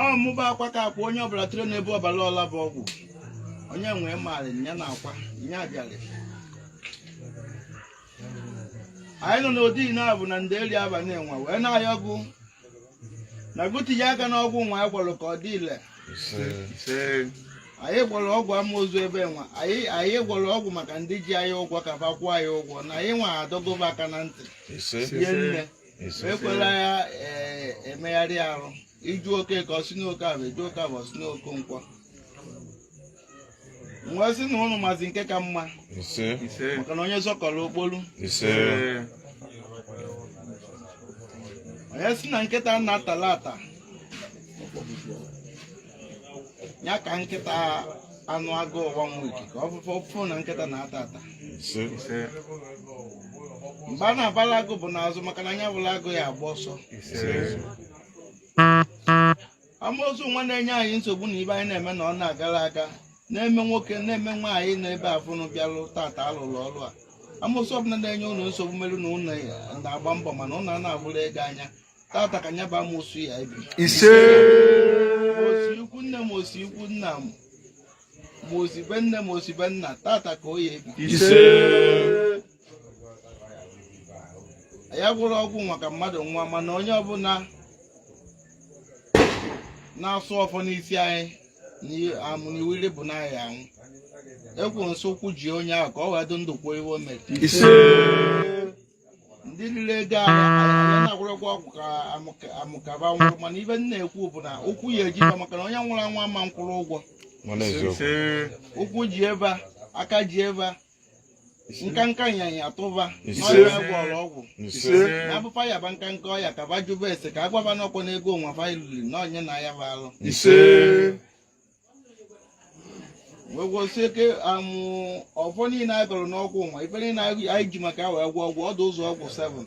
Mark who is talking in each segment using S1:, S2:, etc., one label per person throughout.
S1: ọ mụba akwa ka akwa onye ọbụla tụrụ n'ebe ọbara ọla bụ ọgwụ onye nwee maara ya na akwa ya abịara anyị nọ n'odi naabọ na ndeli abanị nwa wee na-ayọ ọgwụ na agwụ tinye aka n'ọgwụ nwa anyị gwọrọ ka ọ dị ile anyị gwọrọ ọgwụ amoosu ebe nwa anyị gwọrọ ọgwụ maka ndị ji anyị ụgwọ ka fa kwụọ anyị ụgwọ na anyị nwa adọgo fa aka na ntị ihe nne ekwela ya eh, emegharị arụ iju oke ka ọ si n'oke abụ iju oke abụ ọ si n'oke nkwọ wee sị na ụnụ mazi nke ka mma ise ise maka na onye zọkọrọ okpolu ise ee onye sị na nkịta na-atala ata ya ka nkịta anụ agụụ ụwa nwa ka ọ fụ na nkịta na-ata ata mgbe a na-abala agụ bụ n'azụ maka na anya fụla agụ ya agba ọsọ amoosu nwa na-enye anyị nsogbu na ife anyị na-eme na ọ na-agara aga na-eme nwoke na-eme nwaanyị na ebe afụ unu bịalụ tata alụlụ ọrụ a amoosu ọbụla na-enye unu nsogbu melụ na unu na-agba mbọ mana unu a na-afụrụ ego anya tata ka nya bụ amoosu ya ebi ise o si ikwu nne m o si ikwu nna m ma o si be nne m o si be nna tata ka ọ ya ebi ise ya gwọrọ ọgwụ maka mmadụ nwa mana onye ọbụla na-asụ ọfọ n'isi anyị na amụ na iwiri bụ na anyị anwụ Ekwensu ụkwụ ji onye ahụ ka ọ wee dị ndụ kwuo ihe o mere ise ndị riri ego anyị anyị na-agwọrọ ọgwụ ka amụka- amụ ka fa nwụrụ mana ife m na-ekwu bụ na ụkwụ ya eji fa maka na onye nwụrụ anwụ ama nkwụrụ ụgwọ mana eziokwu ụkwụ jie fa, aka jie fa, nkanka nyanya atụ fa Ise. n'ọrịa ya gwọrọ ọgwụ ise abụ fa yaba nkanka ọya ka fa jụba ese ka a gwa fa n'ọkwa n'ego onwe fa iluli na onye na-aya fa alụ ise wee gwọsie ike amụ ọfọ niile anyị gọrọ n'ọgwụ nwa ife niile anyị ji maka ya wee gwọ ọgwụ ọ dụ ụzọ ọgwụ 7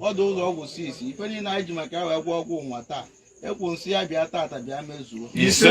S1: ọ dụ ụzọ ọgwụ 6 ife niile anyị ji maka ya wee gwọ ọgwụ nwa taa Ekwensu ya bịa tata bịa mezuo ise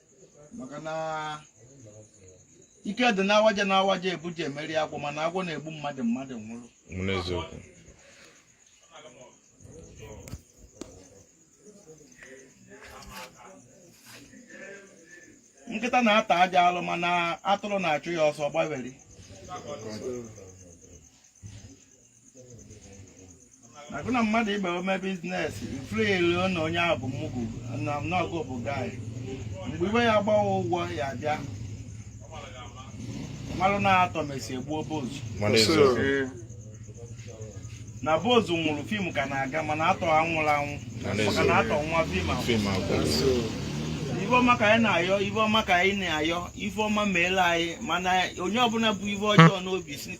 S1: maka na ike dị n'awaja na awaja ebuji emeri agwọ mana agwọ na-egbu mmadụ mmadụ nwụrụ n'eziokwu nkịta na-ata ajọ alụ mana atụrụ na-achụ ya ọsọ gbawere agụ na mmadụ ibe ome biznes i chelu na onye ahụ bụ mugu na ọ gụ bụ guy mgbe iwe ya gbawa ụgwọ ya bịa malụ na actor mesị egbuo boss Mana eze. Ee, na boss nwụrụ fim ka na-aga mana actor anwụrọ anwụ Mana eze. maka na actor nwa fim ahụ Fim agwụrụ. so, ife ọma ka anyị na-ayọ ife ọma ka anyị na-ayọ ife ọma meela anyị mana onye ọbụla bu ife ọjọọ n'obi si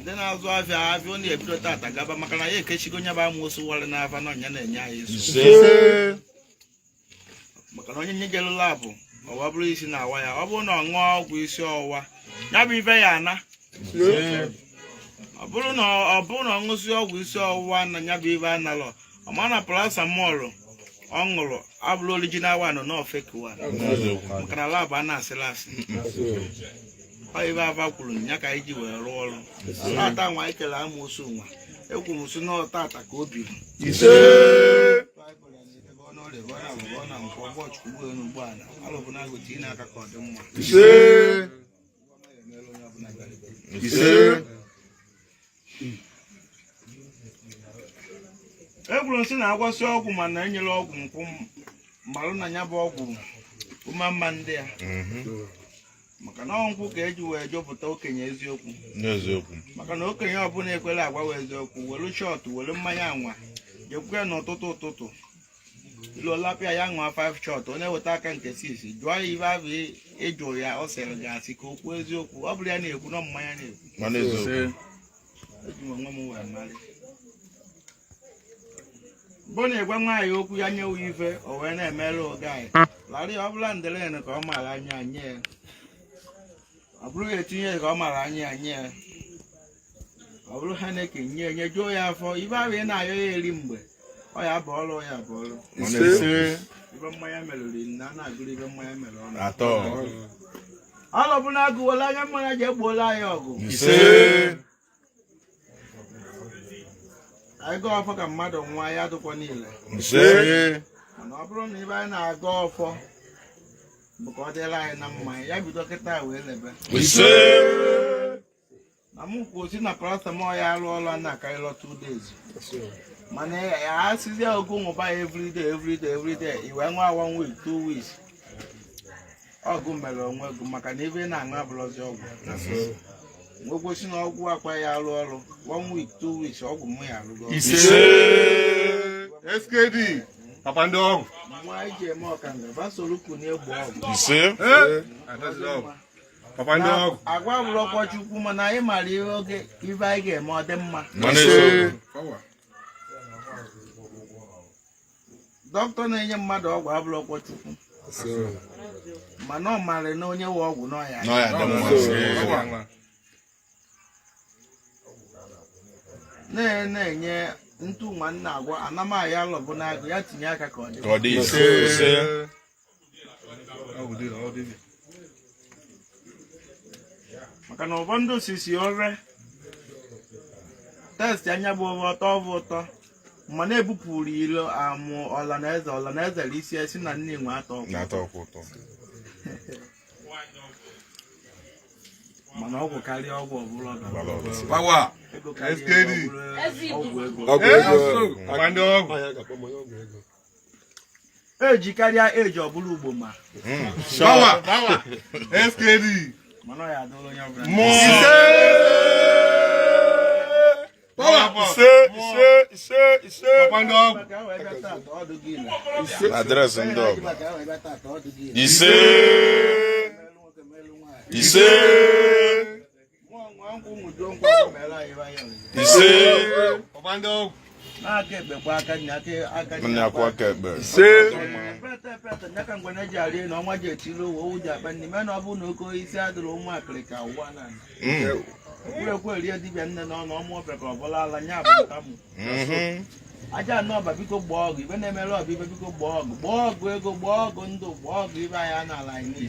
S1: ndị na-azụ afịa afịa unu ebido tata gaba maka na ya ekechigo onye bụ amosu wara n'afa na ọnya na-enye anyị isi maka na onye nye gere lab ọwa bụrụ isi na-awa ya ọ bụrụ na ọ ṅụọ ọgwụ isi ọwụwa ya bụ ife ya-ana ọ bụrụ na ọ ṅụsị ọgwụ isi ọwụwa na ya bụ ife analọ ọ ma na paracetamol ọ ṅụrụ abụrọ original one n'ọ fake one maka na lab a na-asịla asị ọ ife afa kwuru ya ka anyị ji wee rụọ ọrụ tata nwa anyị kere amosu nwa ekwu m sị n'ọ tata ka o biri ise ise ekwuru m sị na a gwọsịa ọgwụ mana enyerọ ọgwụ nkwụ malụ na ya bụ ọgwụ ụma mma ndị a mhm. maka na ọ nkwụ ka e ji wee chọpụta okenye eziokwu n'eziokwu maka na okenye ọbụla ekwerọ agwa eziokwu were shot were mmanya anwa jekwukwe n'ụtụtụ ụtụtụ lụọlapịa ya ṅụọ 5 shot ọ na-eweta aka nke 6 jụọ ya ife ahụ ị jụ ya ọ sịrị gị asị ka o kwuo eziokwu ọ bụrọ ya na-ekwu na mmanya na-ekwu mana eziokwu eji m onwe m wee mara bụ na a gwa nwaanyị okwu ya nye uwe ife o wee na-emere oge anyị larị ọ bụla ndelen ka ọ mara aṅụ nye ya ọ bụrụ ya etinye ka ọ mara aṅụ nye ya ọ bụrụ Heineken nye nyejuo ya afọ ife ahụ ị na-ayọ ya eri mgbe ọ ya bụ ọrụ ya bụ ọrụ ife mmanya merụrụ na a na-agụrụ ife mmanya mere ọnụ atọ ọrụ bụ na agụwela anya mmanya ji egbuola anyị ọ gụ ise anyị gọọ ọfọ ka mmadụ nwa ya dụkwa niile ise mana ọ bụrụ na ife anyị na-agọ ọfọ bụ ka ọ dịlị anyị na mma ya bido kịta wee lebe ise na m kwuo sị na paracetamol ya-arụ ọrụ na akarịla two days mana ya asịzi ọ gụ ṅụba ya everyday everyday everyday i wee ṅụọ one week two weeks ọ gụ mere onwe gụ maka na ife ị na-aṅụ abụrọzi ọgwụ nwegosi na ọgwụ akwa ya arụ ọrụ one week two weeks ọgwụ mụ ya arụgo ise
S2: skd papa ndị ọgwụ nwa anyị ji eme
S1: ọkanga basoro kunu egbo ọgwụ ise
S2: papa ndị ọgwụ agwa abụrọkwọ
S1: Chukwu mana anyị mara ihe oge ibe anyị ga-eme ọ dị mma mana Ise. eze dọkịta na-enye mmadụ ọgwụ abụrọkwọ Chukwu mana ọ mara na o nyewe ọgwụ na ọ ya na ọ ya-adị mma ise. na- na-enye ntu nwa nna agwa anamaya alọbụ n'agụ ya tinye aka ka ọ dị ka ọ dị ise ise maka na ụfọdụ ndị osisi ore test anya bụ ọ bụ ụtọ ọ bụ ụtọ mana ebupụrọ ilo amụ ọla na eze ọla na eze isi esi na nne nwe atọ ọgwụ na-atọ ọkwa ụtọ mana ọgwụ karịa ọgwụ ọbụla ọgwụ gbara ọgụ Bawa. ego karịa SKD. ego ọbụla ọgwụ ego ọgwụ ego Ọgwụ ego. Ọgwụ ndị ọgwụ. eji karịa eji ọbụla ugbo ma hmm. skd mana ọ ya-adịla
S3: onye ọbụla adreesị ndị ọgụ ise ise
S1: Ajaana Ọba biko gbaa ọgụ ibe na-emere ọba ibe biko gbaa ọgụ gbaa ọgụ ego gbaa ọgụ ndụ gbaa ọgụ ibe anyị a n'ala anyị niile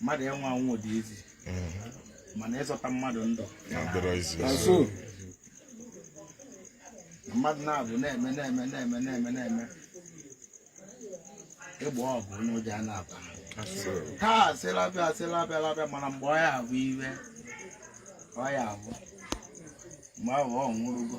S1: mmadụ ịnwụ anwụ dị easy mana ịzọta mmadụ ndụ mmadụ na-abụ na-eme na-eme na-eme na-eme na-eme ịgba ọgụ onye ụjọ a na-aba taa asịla bịa asịla bịa labịa mana mgbe ọ ya abụ iwe ọ ya abụ mgbe ahụ ọ nwụrụgo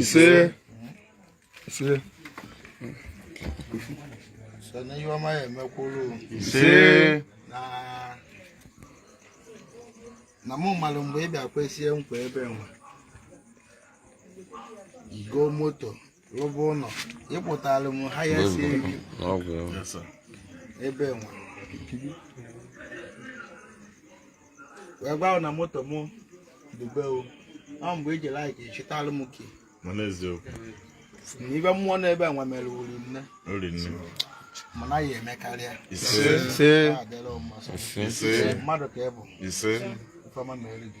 S2: ise ise sọ na
S1: ihe ọma ya-eme kwuru ise na na mụ malụ mgbe ị bịa kwesie nkwa ebe nwa ị go moto rụba ụlọ ịpụtara m ha ya si eri ebe nwa wee gwa na moto m dube o ọ mgbe i ji like chịtara m ke mana
S3: eziokwu na
S1: ife mmụọ n'ebe nwa mere wuri nne mana ya-emekarịa mmadụ ka ị bụ ife
S3: ọma
S1: mere gị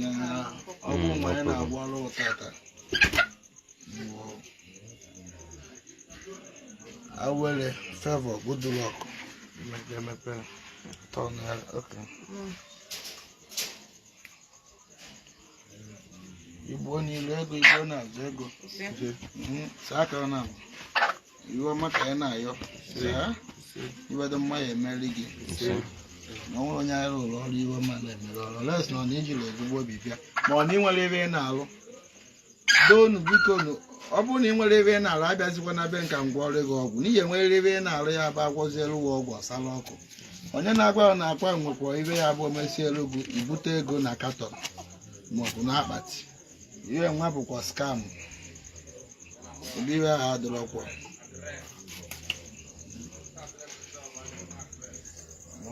S1: ya na ọgwụ nwa ya na-agwọrọ tata awere favour good luck emepe tọn ya oke igbo niile ego igbo na-azụ ego saa aka na ive ọma ka anyị na-ayọ ive dị mma ya emere gị na o nwerọ onye anyị rụrụ ọrụ ive ọma na-emerọ unless na ọ na i jirọ ezigbo obi bịa ma ọ na i nwerọ ive ị na-alụ doonu biko nu ọ bụrụ na i nwerọ ive ị na-alụ abịazikwana be m ka m gwọọrọ gị ọgwụ n'ihi i nwerọ ive ị na-alụ ya bụ agwọzielu gị ọgwụ ọsala ọkụ onye na-agwa ya na akwa nwekwa ive ya bụ omesielu gị ibute ego na katọn maọbụ n'akpati ihe nwa bụkwa scam ụdị ihe ahụ adịrọkwa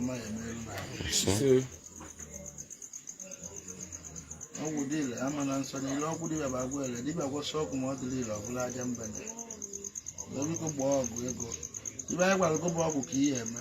S1: mma ya mere na ahụ ọgwụ dị ile a ma na nsọ niile ọgwụ dibịa bụ ọgwụ ile dibịa gwọsị ọgwụ ma ọ dịrọ ile ọbụla aja mba na wee biko gbaa ọgwụ ego ive anyị gwara gị bụ ọgwụ ka ị ya-eme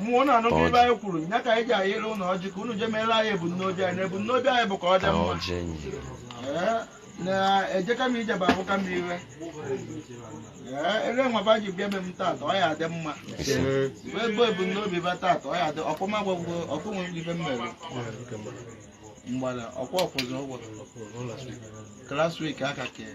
S1: mmụọ na-anụ Ọjị. na ive anyị kwuru ya ka anyị ji ayịrị ụlọ ọjị ka unu je meere anyị ebumnobi anyị na ebumnobi anyị bụ ka ọ dị mma ọjị nyere Ee, na ejeka m ije bụ abụka m ire Ee, ive nwa va ji bịa be m tata ọ ya adị mma ise ive bụ ebumnobi va tata ọ ya adị ọkụma gwagwo ọkụ nwere ive m mere mgbada ọkwa ọfụzụ ụgwọ klaswik aka kee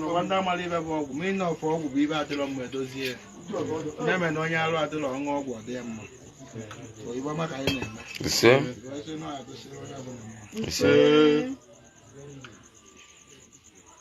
S1: n'ụwa ndị amarọ ive bụ ọgwụ ma ị na-afụ ọgwụ bụ ive adịrọ mma edozie na-eme na onye arụ adịrọ ọṅụ ọgwụ ọ dị ya mma ive ọma ka anyị na-eme ise ise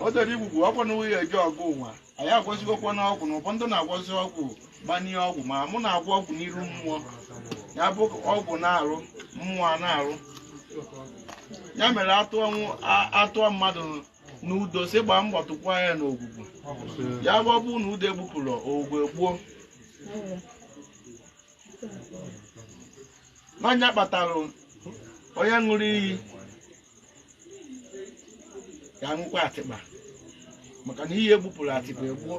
S1: o doro igwu bụ ọgwụ na nwunye eji ọgụ ụwa anyị agwọzigokwa n'ọgwụ na ụfọdụ na-agwọzi ọgwụ gbanye ọgwụ ma mụ na-agwọ ọgwụ n'iru mmụọ ya bụ ọgwụ na-arụ mmụọ a na-arụ ya mere atụọ nwu- a- atụọ mmadụ n'udo si gbaa mbọ tụkwa ya n'ogwugwu ya bụ ọ bụrụ na udo egbupụrọ ogwugwu egbuo nya kpatara onye ṅụrụ iyi ya ṅụkwa atịkpa maka na iyi egbupụrọ atịkpa egbuo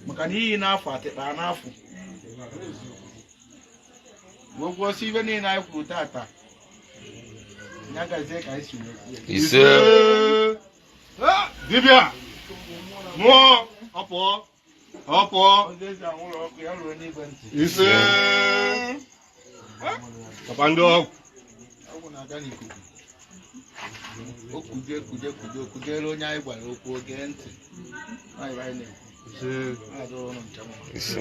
S1: maka na iyi na-afụ atịkpa na-afụ wee gọọ sị ive niile anyị kwuru tata ya gazie ka anyị si wee kwuo ya.
S2: ise dibịa mmụọ ọpụọ ọ pụọ ise papa ndị ọgwụ
S1: o kuje kuje kuje kujere onye anyị gwara okwu o gee ntị Anyị bụ anyị na-ekwu.
S4: ise Anyị adọrọ ụnụ nke mma. ise